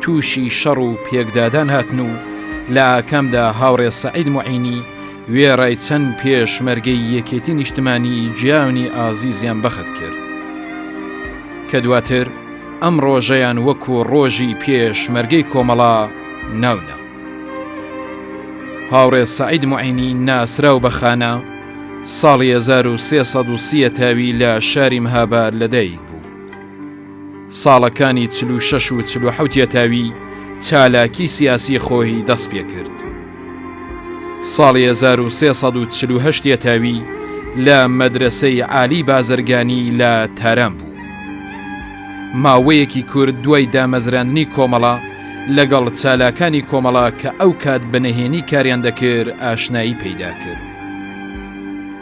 تووشی شەڕ و پێکدادان هاتن و لە ئاکامدا هاوڕێ سەعید معینی وێڕای چەند پێشمەرگەی یەکێتی نیشتمانی جیانی ئازیزیان بەخت کرد کە دواتر ئەم ڕۆژەیان وەکو ڕۆژی پێشمەرگەی کۆمەڵا ناونا هاوڕێ سعید معینی ناسراو بە خانە ساڵی 1330 تاوی لە شاری مهابار لەدایک بوو ساڵەکانی چل و شەش و چل و حەوت یەتاوی چالاکی سیاسی خۆی دەست پێ کرد. ساڵی 1340 یەتاوی لە مەدرسەی عالی بازرگانی لە تاران بوو. ماوەیەکی کورد دوای دامەزراندنی کۆمەڵە لەگەڵ چالاکانی کۆمەڵە کە ئەو کات بە نهێنی کاریان دەکرد ئاشنایی پەیدا کرد.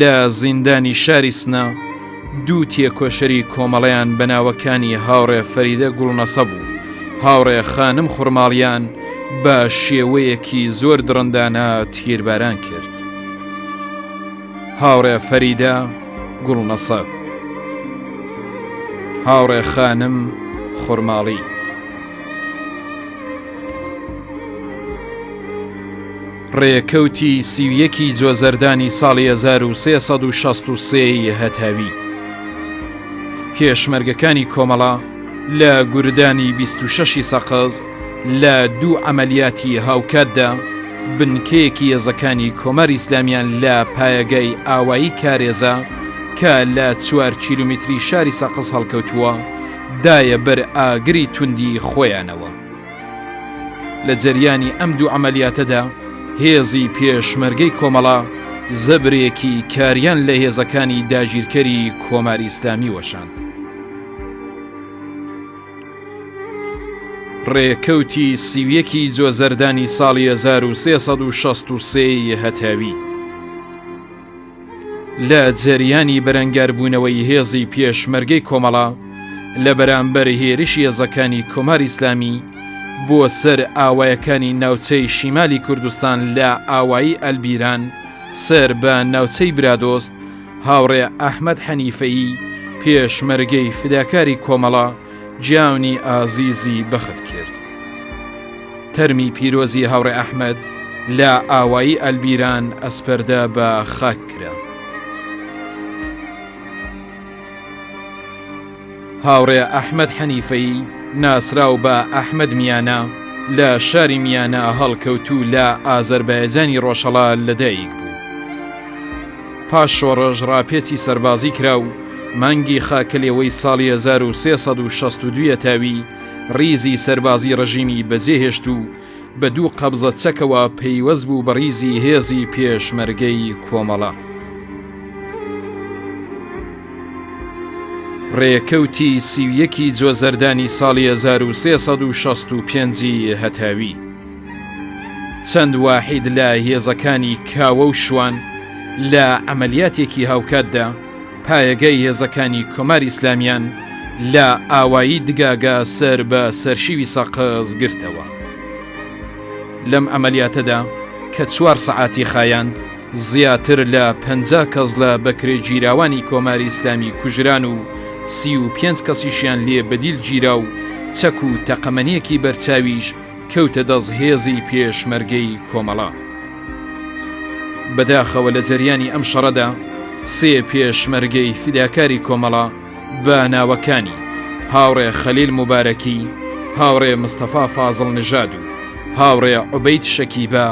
لە زیندانی شاری سنە دوو تێکۆشەری کۆمەڵەیان بە ناوەکانی هاوڕێ فەریدە گوڵنەسەب و هاوڕێ خانم خورماڵیان بە شێوەیەکی زۆر دڕندانە تیرباران کرد. هاوڕێ فەریدە گوڵنەسەب، هاوڕێ خانم خورماڵی، ڕێکەوتی سی و یەکی جۆزەردانی ساڵی هەزار و سێ سەد و شەست و سێ ی هەتاوی پێشمەرگەکانی کۆمەڵە لە گوردانی بیست و شەش ی سەقز لە دوو عەمەلیاتی هاوکاتدا بنکەیەکی هێزەکانی کۆماری ئیسلامییان لە پایەگای ئاوایی کارێزە کە لە چوار کیلومیتری شاری سەقز هەڵکەوتووە دایە بەر ئاگری توندی خۆیانەوە. لە جەریانی ئەم دوو عەمەلیاتەدا هێزی پێشمەرگەی کۆمەڵە زەبرێکی کاریان لە هێزەکانی داگیرکەری کۆماری ئیسلامی وەشاند. ڕێکەوتی سیویەکی جۆزەردانی ساڵی 1363 ی هەتاوی. لە جەریانی بەرەنگاربوونەوەی هێزی پێشمەرگەی کۆمەڵە لە بەرامبەر هێرش هێزەکانی کۆماری ئیسلامی بۆ سەر ئاوایەکانی ناوچەی شیمالی کوردستان لە ئاوایی ئەلبیران سەر بە ناوچەی برادۆست هاوڕێ ئەحمەد حەنیفەیی پێشمەرگەی فداکاری کۆمەڵە جیانی ئازیزی بەخت کرد تەرمی پیرۆزی هاوڕێ ئەحمد لە ئاوایی ئەلبیران ئەسپەردە بە خاک کرا هاوڕێ ئەحمد حەنیفەی ناسراو بە ئەحمد میانە لە شاری میانە هەڵکەوتوو لە ئازەربایجانی ڕۆژهڵا لەدایک بوو پاش شۆڕش ڕاپێچی سەربازی کرا و مانگی خاکەلێوەی ساڵی 1362 یەتاوی ڕیزی سەربازی ڕژیمی بەجێهێشت و بە دوو قەبزە چەکەوە پەیوەست بوو بە ڕیزی هێزی پێشمەرگەی کۆمەڵە. ڕێکەوتی سی و یەکی جۆزەردانی ساڵی 1365 ی هەتاوی. چەند واحید لە هێزەکانی کاوە و شوان لە عەمەلیاتێکی هاوکاتدا پایەگای هێزەکانی کۆماری ئیسلامیان لە ئاوایی دگاگە سەر بە سەرشیوی سەقز گرتەوە. لەم عەمەلیاتەدا کە چوار سەعاتی خایاند، زیاتر لە پەنجا کەس لە بەکرێگیراوانی کۆماری ئیسلامی کوژران و سی و پێنج کەسیشیان لێ بەدیل گیرا و چەک و تەقەمەنییەکی بەرچاویش کەوتە دەست هێزی پێشمەرگەی کۆمەڵە. بەداخەوە لە جەریانی ئەم شەڕەدا سێ پێشمەرگەی فیداکاری کۆمەڵە بە ناوەکانی، هاوڕێ خەلیل موبارەکی، هاوڕێ مستەفا فازڵ نژاد و هاوڕێ عوبەید شەکیبە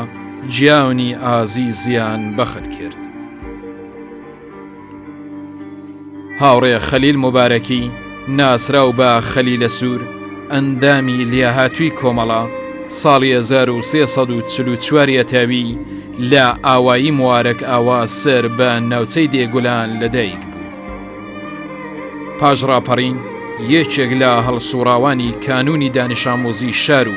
گیانی ئازیزیان بەخت کرد. هاوڕێ خەلیل مبارەکی ناسراو بە خەلی لە سوور ئەندامی لیاهاتووی کۆمەڵە ساڵی 1940 یەتاوی لە ئاوایی موارەک ئاوا سەر بە ناوچەی دێگولان لەدایک بوو پاش ڕاپەڕین یەکێک لە هەڵسوڕاوانی کانونی دانیشامۆزی شار و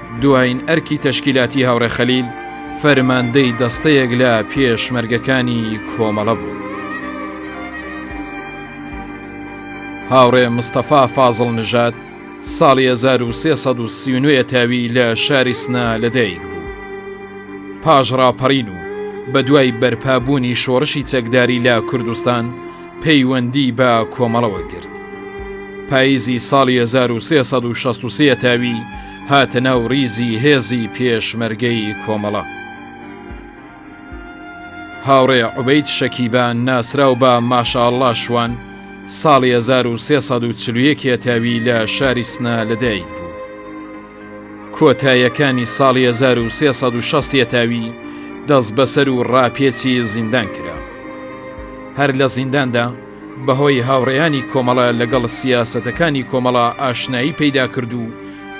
دوایین ئەرکی تەشکیلاتی هاوڕێ خەلیل فەرماندەی دەستەیەک لە پێشمەرگەکانی کۆمەڵە بوو. هاوڕێ مستەفا فازڵ نژات ساڵی 1339 تاوی لە شاری سنا لەدایک بوو پاش ڕاپەڕین و بە دوای بەرپابوونی شۆڕشی چەکداری لە کوردستان پەیوەندی بە کۆمەڵەوە گرت. پاییزی ساڵی هەزار و سێ سەد و شەست و سێ یەتاوی هاتە ناو ڕیزی هێزی پێشمەرگەی کۆمەڵە. هاوڕێ عوبەید شەکیبا ناسراو بە ماشاءاللە شوان ساڵی هەزار و سێ سەد و چل و یەک یەتاوی لە شاری سنە لەدایک بوو. کۆتایەکانی ساڵی هەزار و سێ سەد و شەست یەتاوی دەست بەسەر و ڕاپێچی زیندان کرا هەر لە زینداندا بەهۆی هاوڕێیانی کۆمەڵە لەگەڵ سیاسەتەکانی کۆمەڵە ئاشنایی پەیدا کرد و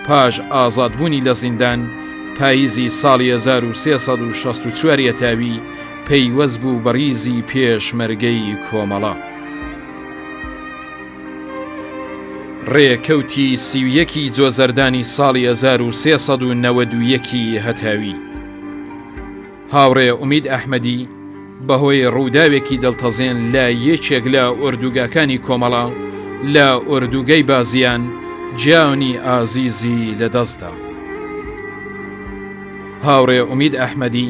پاش ئازادبوونی لە زیندان پاییزی ساڵی 1964 یەتاوی پەیوەست بوو بەڕیزی پێشمەرگەی کۆمەڵە. ڕێکەوتی سی و یەکی جۆزەردانی ساڵی هەزار و سێ سەد و نەوەد و یەکی هەتاوی هاوڕێ ئومید ئەحمەدی بەهۆی ڕووداوێکی دڵتەزێن لە یەکێک لە ئۆردوگاکانی کۆمەڵە لە ئۆردوگەی بازیان جیانی ئازیزی لەدەستدا هاوڕێ ئومید ئەحمەدی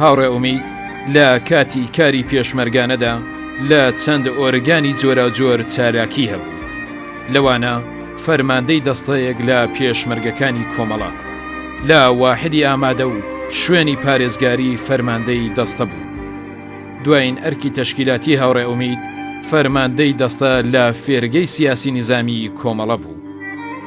هاوڕێ ئومید لە کاتی کاری پێشمەرگانەدا لە چەند ئۆرگانی جۆراوجۆر چالاکی هەبوو، لەوانە فەرماندەی دەستەیەک لە پێشمەرگەکانی کۆمەڵە، لە واحدی ئامادە و شوێنی پارێزگاری فەرماندەی دەستە بوو. دوایین ئەرکی تەشکیلاتی هاوڕێ ئومید فەرماندەی دەستە لە فێرگەی سیاسی نیزامیی کۆمەڵە بوو.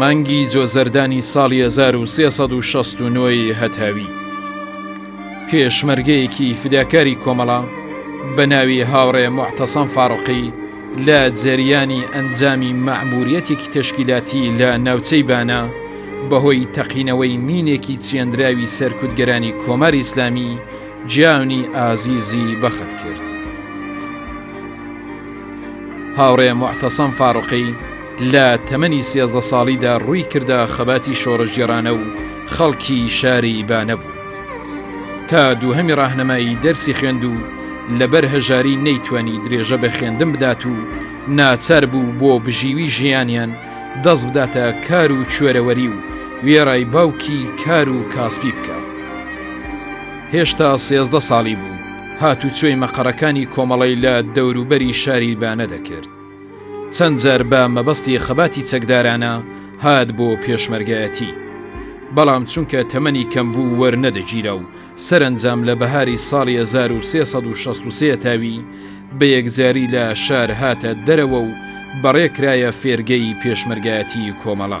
مانگی جۆزەردانی ساڵی هەزار و سێ سەد و شەست و نۆی هەتاوی پێشمەرگەیەکی فداکاری کۆمەڵە بە ناوی هاوڕێ معتەسەم فاڕقی لە جەریانی ئەنجامی مەعموریەتێکی تەشکیلاتی لە ناوچەی بانە بەهۆی تەقینەوەی مینێکی چێنراوی سەرکوتگەرانی کۆماری ئیسلامی جیانی ئازیزی بەخت کرد. هاوڕێ معتەسەم فاڕقی لە تەمەنی سێزدە ساڵیدا ڕووی کردە خەباتی شۆڕشگێڕانە و خەڵکی شاری بانە بوو. تا دووهەمی ڕاهنەمایی دەرسی خوێند و لەبەر هەژاری نەیتوانی درێژە بە خوێندن بدات و ناچار بوو بۆ بژیوی ژیانیان دەست بداتە کار و کوێرەوەری و وێڕای باوکی کار و کاسپی بکا. هێشتا سێزدە ساڵی بوو، هاتوچۆی مەقەڕەکانی کۆمەڵەی لە دەوروبەری شاری بانە دەکرد. چەند جار بە مەبەستی خەباتی چەکدارانە هات بۆ پێشمەرگایەتی بەڵام چونکە تەمەنی کەم بوو وەرنەدەگیرا و سەرنجام لە بەهاری ساڵی 1363 تاوی بە یەکجاری لە شار هاتە دەرەوە و بەڕێکرایە فێرگەی پێشمەرگایەتی کۆمەڵە.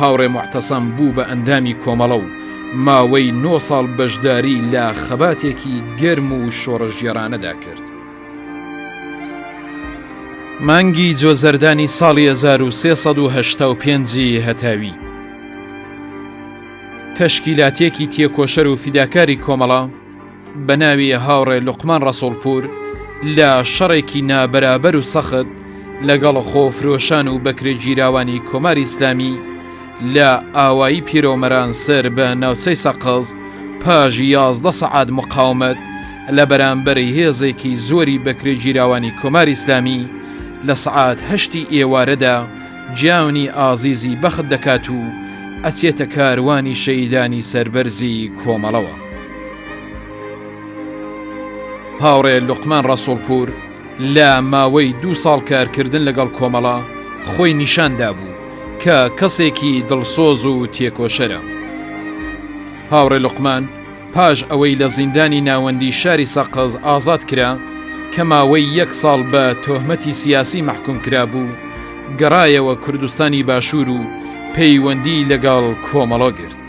هاوڕێ موعتەسەم بوو بە ئەندامی کۆمەڵە و ماوەی نۆ ساڵ بەشداری لە خەباتێکی گەرم و شۆڕشگێڕانەدا کرد. مانگی جۆزەردانی ساڵی 1385 هەتاوی تەشکیلاتێکی تێکۆشەر و فیداکاری کۆمەڵە بە ناوی هاوڕێ لوقمان ڕەسوڵپوور لە شەڕێکی نابەرابەر و سەخت لەگەڵ خۆفرۆشان و بەکرێگیراوانی کۆماری ئیسلامی لە ئاوایی پیرۆمەران سەر بە ناوچەی سەقز پاش یازدە سەعات مقاومەت لە بەرامبەر هێزێکی زۆری بەکرێگیراوانی کۆماری ئیسلامی لە سەعات هەشتی ئێوارەدا جیانی ئازیزی بەخت دەکات و ئەچێتە کاروانی شەهیدانی سەربەرزی کۆمەڵەوە. هاوڕێ لوقمان ڕەسوڵپوور لە ماوەی دوو ساڵ کارکردن لەگەڵ کۆمەڵە خۆی نیشان دابوو کە کەسێکی دڵسۆز و تێکۆشەرە. هاوڕێ لوقمان پاش ئەوەی لە زیندانی ناوەندی شاری سەقز ئازاد کرا کە ماوەی یەک ساڵ بە تۆهمەتی سیاسی مەحکووم کرابوو، گەڕایەوە کوردستانی باشوور و پەیوەندی لەگەڵ کۆمەڵە گرت.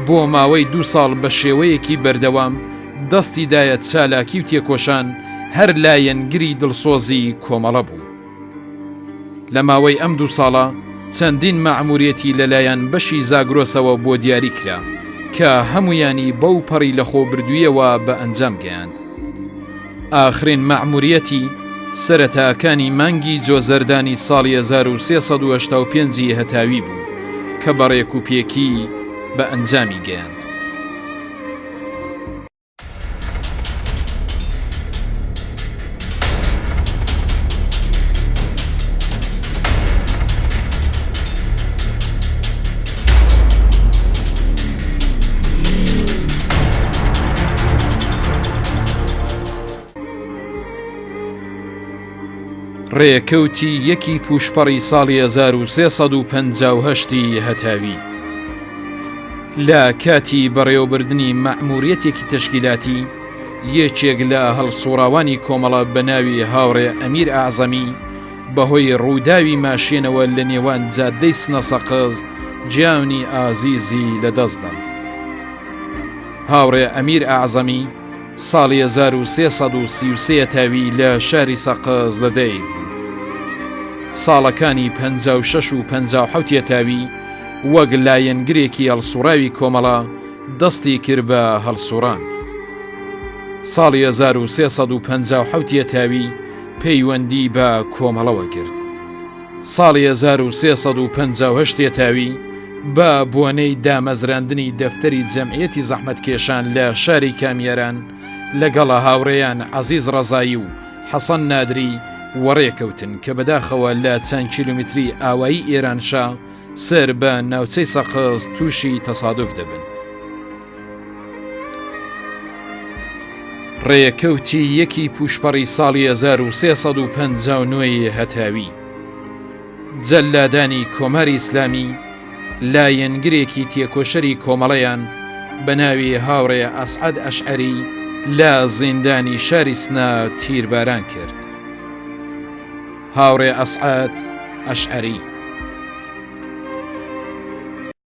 بۆ ماوەی دوو ساڵ بە شێوەیەکی بەردەوام دەستی دایە چالاکی و تێکۆشان هەر لایەنگری دڵسۆزی کۆمەڵە بوو. لە ماوەی ئەم دوو ساڵە چەندین مەعموریەتی لەلایەن بەشی زاگرۆسەوە بۆ دیاری کرا کە هەموویانی بەو پەڕی لەخۆ بردوویەوە بە ئەنجام گەیاند. ئاخرین مەعموریەتی، سەرەتاکانی مانگی جۆزەردانی ساڵی 1385 ی هەتاوی بوو، کە بە ڕێک و پێکی بە ئەنجامی گەیاند. ڕێکەوتی یەکی پوشپەڕی ساڵی 1950 هەتاوی لە کاتی بەڕێوەبردننی مەعموریەتێکی تشکیلاتی یەکێک لە هەڵسوڕاوانی کۆمەڵە بە ناوی هاوڕێ ئەمیر ئازەمی بەهۆی ڕووداوی ماشێنەوە لە نێوان جادەی سنەسەقز گیانی ئازیزی لەدەستدا. هاوڕێ ئەمیر ئەعزەمی ساڵی 1333 تاوی لە شاری سەقز لە دەیک بوو. ساڵەکانی 56 و 57 تاوی وەک لایەنگرێکی هەڵسوڕاوی کۆمەڵە دەستی کرد بە هەڵسوڕان. ساڵی 1357 تاوی پەیوەندی بە کۆمەڵەوە گرت. ساڵی هەزار و سێ سەد و پەنجا و هەشت یەتاوی بە بۆنەی دامەزراندنی دەفتەری جەمعیەتی زەحمەتکێشان لە شاری کامیاران لەگەڵ هاوڕێیان عەزیز ڕەزایی و حەسەن نادری وەڕێ کەوتن کە بەداخەوە لە چەند کیلومتری ئاوایی ئێرانشا سەر بە ناوچەی سەقز تووشی تەسادوف دەبن. ڕێکەوتی یەکی پوشپەڕی ساڵی 1350 ی هەتاوی جەلادانی کۆماری ئیسلامی لایەنگرێکی تێکۆشەری کۆمەڵەیان بە ناوی هاوڕێ ئەسعەد ئەشعری لە زیندانی شاری سنە تیرباران کرد هاوڕێ ئەسعات ئەشعری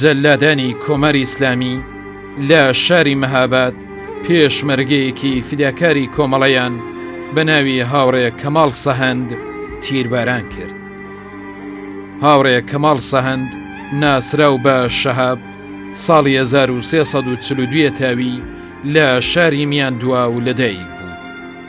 جەلادانی کۆماری ئیسلامی لە شاری مەهاباد پێشمەرگەیەکی فیداکاری کۆمەڵەیان بە ناوی هاوڕێ کەماڵ سەهەند تیرباران کرد. هاوڕێ کەماڵ سەهەند ناسراو بە شەهاب ساڵی 1342 تاوی لە شاری میاندواو لەدایک بوو.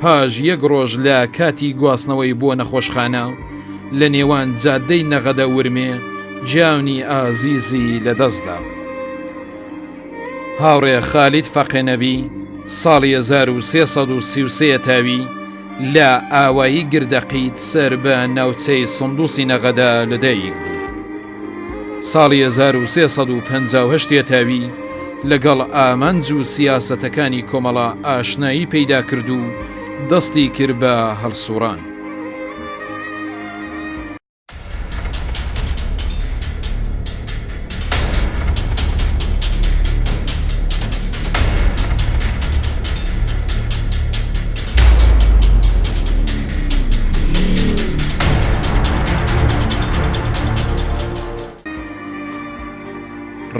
پاش یەک ڕۆژ لە کاتی گواستنەوەی بۆ نەخۆشخانە، لە نێوان جادەی نەغەدە ورمێ گیانی ئازیزی لەدەستدا. هاوڕێ خالید فەقێ نەبی ساڵی 1333 تاوی لە ئاوایی گردەقیت سەر بە ناوچەی سندوسی نەغەدە لەدایک بوو. ساڵی هەزار و سێ سەد و پەنجا و هەشت یەتاوی لەگەڵ ئامانج و سیاسەتەکانی کۆمەڵە ئاشنایی پەیدا کرد و دەستی کرد بە هەڵسووڕان.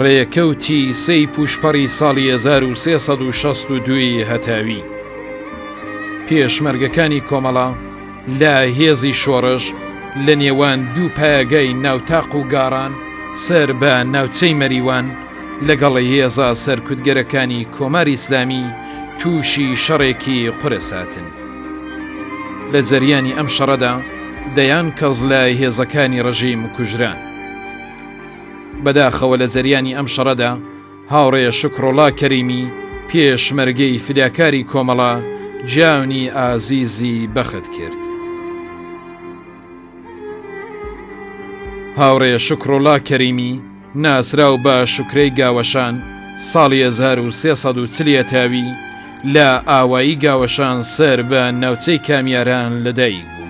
ڕێکەوتی سەی پوشپەڕی ساڵی 1962 هەتاوی پێشمەرگەکانی کۆمەڵە، لە هێزی شۆڕش لە نێوان دوو پایەگای ناوتاق و گاڕان سەر بە ناوچەی مەریوان لەگەڵ هێزە سەرکوتگەرەکانی کۆماری ئیسلامی تووشی شەڕێکی قورس هاتن. لە جەریانی ئەم شەڕەدا دەیان کەس لە هێزەکانی ڕژیم کوژران. بەداخەوە لە جەریانی ئەم شەڕەدا، هاوڕێ شوکڕۆڵا کەریمی پێشمەرگەی فیداکاری کۆمەڵە جانی ئازیزی بەخت کرد. هاوڕێ شوکڕۆڵا کەریمی ناسراو بە شوکرەی گاوەشان ساڵی 1340 تاوی لە ئاوایی گاوەشان سەر بە ناوچەی کامیاران لەدایک بوو.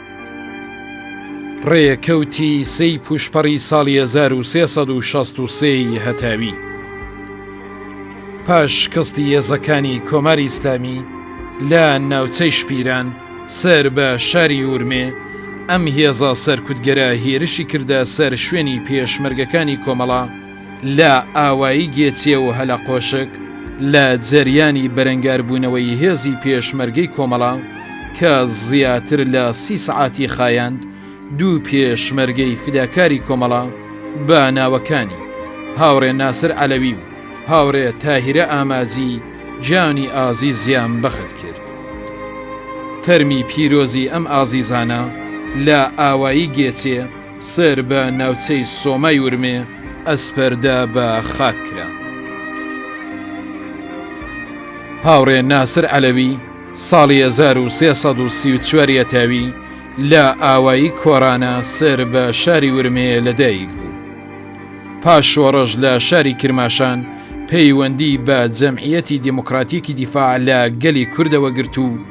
ڕێکەوتی سێی پوشپەڕی ساڵی 1363ی هەتاوی پاش شکستی هێزەکانی کۆماری ئیسلامی لە ناوچەی شپیران سەر بە شاری ورمێ ئەم هێزە سەرکوتگەرە هێرشی کردە سەر شوێنی پێشمەرگەکانی کۆمەڵە لە ئاوایی گێچێ و هەلەقۆشک لە جەریانی بەرەنگاربوونەوەی هێزی پێشمەرگەی کۆمەڵە کە زیاتر لە سی سەعاتی خایاند، دوو پێشمەرگەی فیداکاری کۆمەڵە بە ناوەکانی، هاوڕێ ناسر عەلەوی و هاوڕێ تاهیرە ئاماجی گیانی ئازیزیان بەخت کرد. تەرمی پیرۆزی ئەم ئازیزانە لە ئاوایی گێچێ، سەر بە ناوچەی سۆمای ورمێ ئەسپەردە بە خاک کرا. هاوڕێ ناسر عەلەوی ساڵی 1334 یەتاوی لە ئاوایی کۆرانە سەر بە شاری ورمێ لەدایک بوو. پاش شۆڕش لە شاری کرماشان پەیوەندی بە جەمعیەتی دیموکراتیکی دیفاع لە گەلی کوردەوە گرت و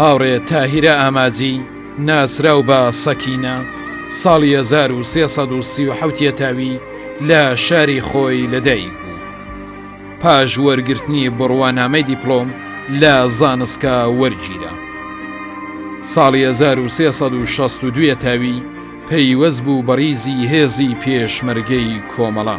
هاوڕێ تاهیرە ئاماجی ناسراو بە سەکینە ساڵی 1337 تاوی لە شاری خۆی لەدایک بوو پاش وەرگرتنی بڕوانامەی دیپلۆم لە زانستکە وەرگیرە ساڵی 1362 تاوی پەیوەست بوو بەڕیزی هێزی پێشمەرگەی کۆمەڵە.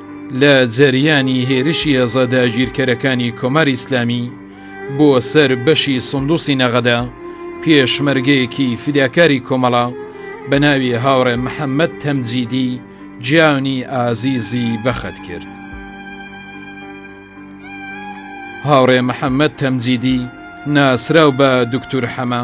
لە جەریانی هێرشی هێزە داگیرکەرەکانی کۆماری ئیسلامی بۆ سەر بەشی سندوسی نەغەدە، پێشمەرگەیەکی فیداکاری کۆمەڵە بە ناوی هاوڕێ محەمەد تەمجیدی گیانی ئازیزی بەخت کرد. هاوڕێ محەمەد تەمجیدی ناسراو بە دوکتور حەمە،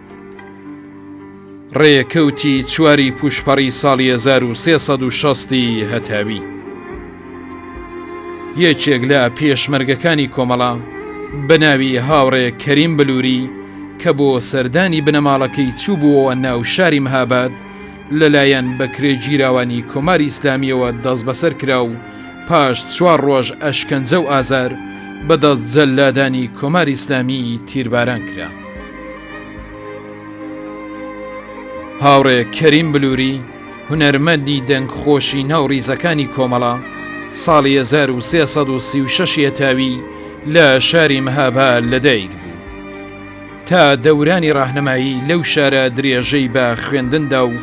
ڕێکەوتی چواری پوشپەڕی ساڵی 1360 ی هەتاوی یەکێک لە پێشمەرگەکانی کۆمەڵە بە ناوی هاوڕێ کەریم بلووری کە بۆ سەردانی بنەماڵەکەی چوو بووەوە ناو شاری مهاباد لەلایەن بەکرێ گیراوانی کۆماری ئیسلامیەوە دەست بەسەر کرا و پاش چوار ڕۆژ ئەشکەنجە و ئازار بەدەست جەلادانی کۆماری ئیسلامی تیرباران کرا. هاوڕێ کەریم بلووری هونەرمەندی دەنگ خۆشی ناو ڕیزەکانی کۆمەڵە ساڵی 1336 یەتاوی لە شاری مەهابا لەدایک بوو تا دەورانی ڕاهنمایی لەو شارە درێژەی بە خوێندندا و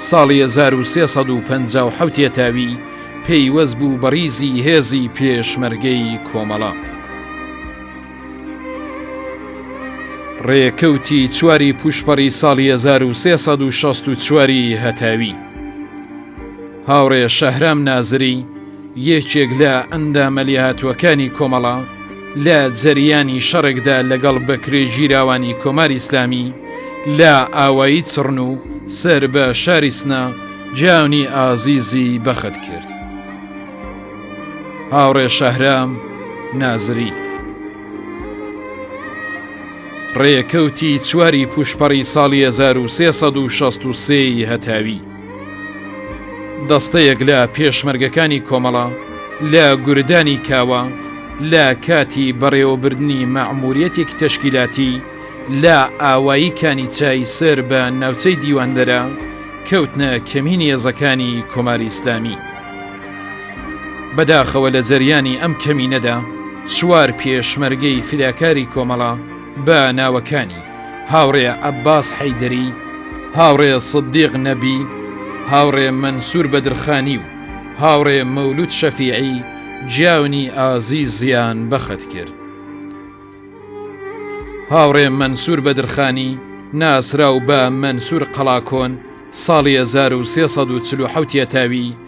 ساڵی 1350 یەتاوی پەیوەست بوو بە ڕیزی هێزی پێشمەرگەی کۆمەڵە. ڕێکەوتی چواری پوشپەڕی ساڵی 1964 هەتاوی هاوڕێ شەهرام نازری یەکێک لە ئەندامە لێهاتووەکانی کۆمەڵە لە جەریانی شەڕێکدا لەگەڵ بەکرێ گیراوانی کۆماری ئیسلامی لە ئاوایی چڕن و سەر بە شاری سنە جیانی ئازیزی بەخت کرد. هاوڕێ شەهرام نازری ڕێکەوتی چواری پوشپەڕی ساڵی 1963 هەتاوی دەستەیەک لە پێشمەرگەکانی کۆمەڵە لە گوردانی کاوە لە کاتی بەڕێوەبردننی مەعموریەتێک تەشکیلاتی لە ئاوایی کانی چای سەر بە ناوچەی دیواندەرە کەوتنە کەمینی هێزەکانی کۆماری ئیسلامی. بەداخەوە لە جەریانی ئەم کەمینەدا چوار پێشمەرگەی فیداکاری کۆمەڵە بە ناوەکانی، هاوڕێ عەباس حەیدەری، هاوڕێ سدیق نەبی، هاوڕێ مەنسور بەدرخانی و هاوڕێ مەولود شەفیعی گیانی ئازیزیان بەخت کرد. هاوڕێ مەنسور بەدرخانی ناسراو بە مەنسور قەڵاکۆن ساڵی 1347 یەتاوی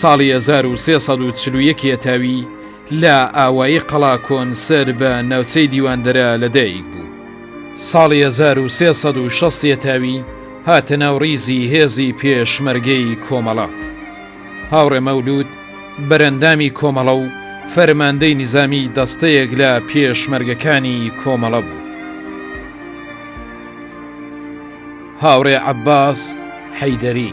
ساڵی هەزار و سێ سەد و چل و یەک یەتاوی لە ئاوایی قەڵاکۆن سەر بە ناوچەی دیواندەرە لە دایک بوو. ساڵی هەزار و سێ سەد و شەست یەتاوی هاتە ناو ڕیزی هێزی پێشمەرگەی کۆمەڵە. هاوڕێ مەولوود بەرەندامی کۆمەڵە و فەرماندەی نیزامی دەستەیەک لە پێشمەرگەکانی کۆمەڵە بوو. هاوڕێ عەباس حەیدەری.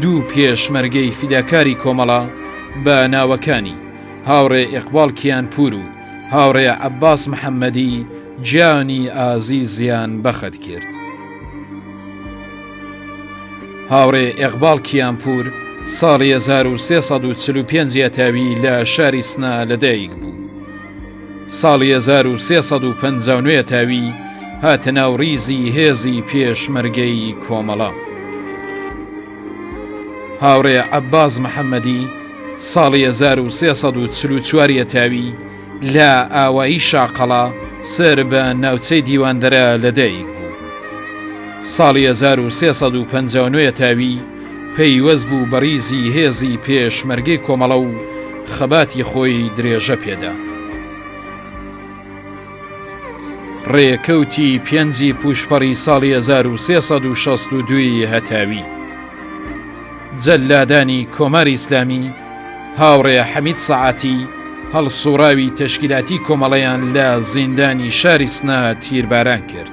دوو پێشمەرگەی فیداکاری کۆمەڵە بە ناوەکانی، هاوڕێ ئێقباڵ کیانپوور و هاوڕێ عەباس محەممەدی گیانی ئازیزیان بە خەت کرد. هاوڕێ ئێقباڵ کیانپوور ساڵی هەزار و سێ سەد و چل و پێنج یەتاوی لە شاری سنە لەدایک بوو. ساڵی هەزار و سێ سەد و پەنجا و نۆێ تاوی هاتە ناو ڕیزی هێزی پێشمەرگەی کۆمەڵە. هاوڕێ عەباز محەممەدی ساڵی 1940 یەتاوی لە ئاوایی شاقەڵا سەر بە ناوچەی دیواندەرە لەدایک بوو. ساڵی 1950 تاوی پەیوەست بوو بە ڕیزی هێزی پێشمەرگەی کۆمەڵە و خەباتی خۆی درێژە پێدا. ڕێکەوتی پێنجی پوشپەڕی ساڵی 1362 هەتاوی جەلادانی کۆماری ئیسلامی هاوڕێ حەمید سەعاتی هەڵسوڕاوی تەشکیلاتی کۆمەڵەیان لە زیندانی شاری سنە تیرباران کرد.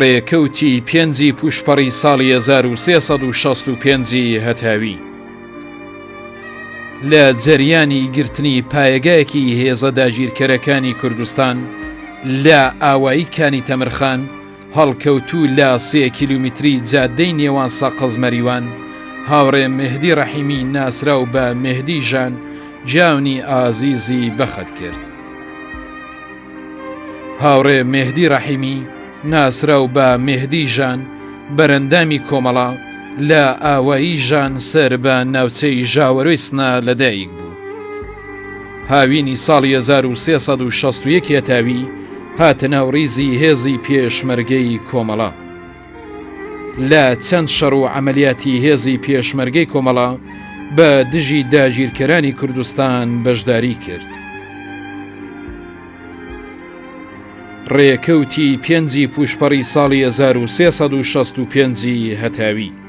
ڕێکەوتی پێنجی پوشپەڕی ساڵی 1665 هەتاوی لە جەریانی گرتنی پایەگایەکی هێزە داگیرکەرەکانی کوردستان لە ئاوایی کانی تەمرخان هەڵکەوتوو لە سێ کیلومیتری جادەی نێوان سەقز مەریوان، هاوڕێ مێهدی ڕەحیمی ناسراو بە مێهدی ژان جیاونی ئازیزی بەخت کرد. هاوڕێ مێهدی ڕەحیمی ناسراو بە مێهدی ژان بەرەندامی کۆمەڵە لە ئاوایی ژان سەر بە ناوچەی ژاوەرۆی سنە لەدایک بوو. هاوینی ساڵی 1361 هێتاوی، هاتە ناو ڕیزی هێزی پێشمەرگەی کۆمەڵە. لە چەند شەڕ و عەمەلیاتی هێزی پێشمەرگەی کۆمەڵە بە دژی داگیرکەرانی کوردستان بەشداری کرد. ڕێکەوتی پێنجی پووشپەڕی ساڵی 1365 ی هەتاوی.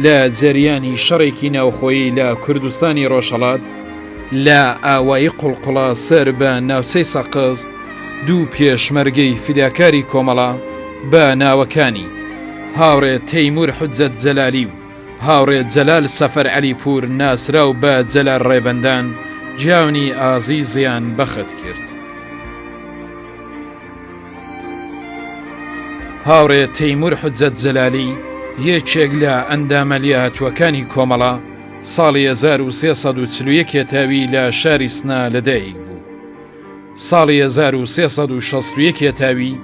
لە جەریانی شەڕێکی ناوخۆیی لە کوردستانی ڕۆژهڵات لە ئاوایی قوڵقڵە سەر بە ناوچەی سەقز دوو پێشمەرگەی فیداکاری کۆمەڵە بە ناوەکانی هاوڕێ تەیمور حجەت جەلالی و هاوڕێ جەلال سەفەر علی پور ناسراو بە جەلال ڕێبندان جیاونی ئازی زیان بەخت کرد. هاوڕێ تەیمور حجەت جەلالی یەکێک لە ئەندامە لیاتوەکانی کۆمەڵە ساڵی 1340 کێتاوی لە شاری سنا لەدایک بوو ساڵی 1360 کێتاوی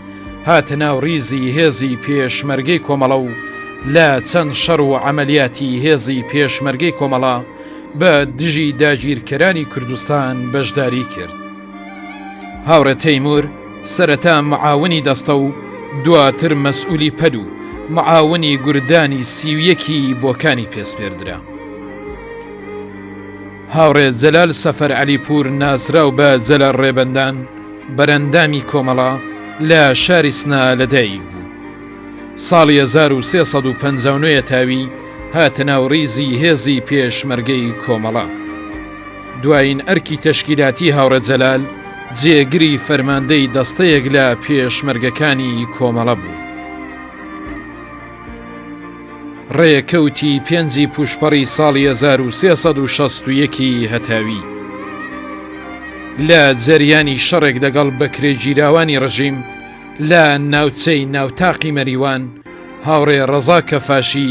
هاتە ناو ریزی هێزی پێشمەرگەی کۆمەڵە و لە چەند شەڕ و عملیاتی هێزی پێشمەرگەی کۆمەڵە بە دژی داگیرکەرانی کوردستان بەشداری کرد. هاوڕێ تەیمور سەرەتا معاونی دەستە و دواتر مەسئولی پەد و معاونی گوردانی سیویەکی بۆکانی پێسپێردرا. هاوڕێ جەلال سەفەر علی پور ناسراو بە جەلە ڕێبەندان بەرەندامی کۆمەڵە لە شاری سنا لەدایک بوو. ساڵی 1350 تاوی هاتە ناوڕیزی هێزی پێشمەرگەی کۆمەڵە. دوایین ئەرکی تەشکیلاتی هاوڕێ جەلال جێگری فەرماندەی دەستەیەک لە پێشمەرگەکانی کۆمەڵە بوو. ڕێکەوتی پێنجی پوشپەڕی ساڵی 1960ی هەتاوی لە جەریانی شەڕێک دەگەڵ بەکرێگیراوانی ڕژیم لە ناوچەی ناوتاقی مەریوان هاوڕێ ڕەزا کەفاشی